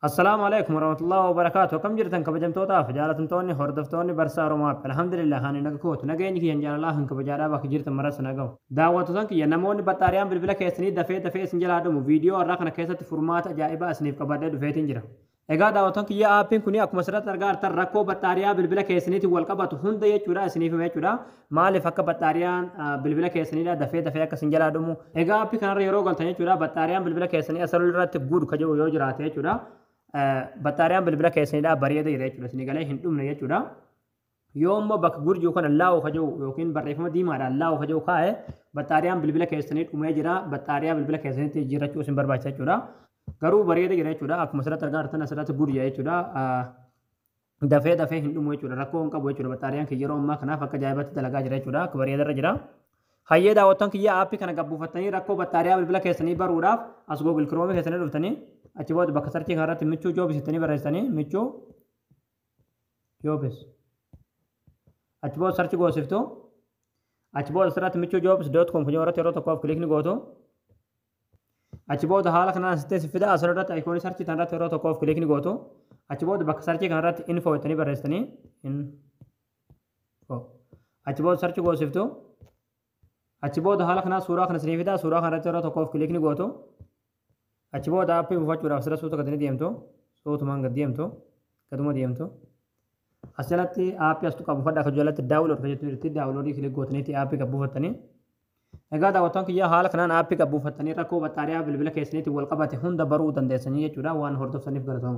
Assalaamu alaikum warahmatullahi wabarakaatu akkam jirtan kabajamtootaaf jaalatamtoonni hordoftoonni barsaa Oromaaf alhamdulillah ani naga kootu nageenyi kiyyan jaalalaa kan kabajaadhaa bakka jirtan marasa nagahu daawwattotan kiyya namoonni baxxaariyaan bilbila keessanii dafee dafee isin jalaa dhumu viidiyoo har'aa kana keessatti furmaata ajaa'ibaa isiniif qabadhee dhufeetiin jira Egaa daawwattoon kiyya aappiin kun akkuma asirratti argaa jirtan rakkoo baxxaariyaa bilbila keessaniitiin wal qabatu hunda jechuudha isiniif hima jechuudha. Maalif akka baxxaariyaan bilbila keessaniidha dafee dafee akka isin jalaa dhumu. Egaa appi kanarra yeroo galtan jechuudha baxxaariyaan bilbila keessanii asirra irratti good ka jedhu yoo jiraate jechuudha baxxaariyaan bilbila keessaniidha bareeda jira jechuudha isin galee hin dhumne jechuudha. Yoo immoo bakka good jiru kana laawu ka jedhu yookiin barreeffama diimaadhaan laawu ka jedhu kaa'e baxxaariyaan bilbila keessanii dhumee jira baxxaariyaa bilbila keessaniitti jijjiirrachuu isin barbaachisa jechuudha. Garuu bareeda jira jechuudha akkuma asirratti argaa jirtan asirratti good jira jechuudha. dafee dafee hin dhumu jechuudha rakkoo hin qabu jechuudha baxaariyaan kiyya yeroo ammaa kanaaf akka jaa'ibaatti dalagaa jira jechuudha akka bareedarra jira hayyee daawwattoon kiyya aappii kana gabbuufattanii rakkoo baxaariyaa bilbila keessanii baruudhaaf as google chrome keessanii dhuftanii achi booda bakka sarchii kanarratti michuu joobis jettanii barreessitanii michuu joobis achi booda sarchi goosiftu achi booda asirratti michuu joobis doot koom kun yeroo tokkoof kilikni gootu Achi booda haala kanaan sittee si fida asirratti ayikoonii sarchii tanarratti yeroo tokkoof kilikni gootu achi booda bakka sarchii kanarratti info jettanii barreessitanii info achi booda sarchi goosiftu achi booda haala kanaan suuraa kana sinii fida suuraa kanarratti yeroo tokkoof kilikni gootu achi booda appii buufachuudhaaf sira suuta gadini deemtu suutumaan gad deemtu gaduma deemtu as jalatti appii astu qabu fadha akka jalatti daawulood kan jettu jirti daawuloodii kilik gootaniitti appii kan buufattanii Egaa daawwattoon kiyyaa haala kanaan aappii gad buufattanii rakkoo baxxaariyaa bilbila keessaniitiin wal qabate hunda baruu dandeessanii jechuudha waan hordoftaniif galatooma.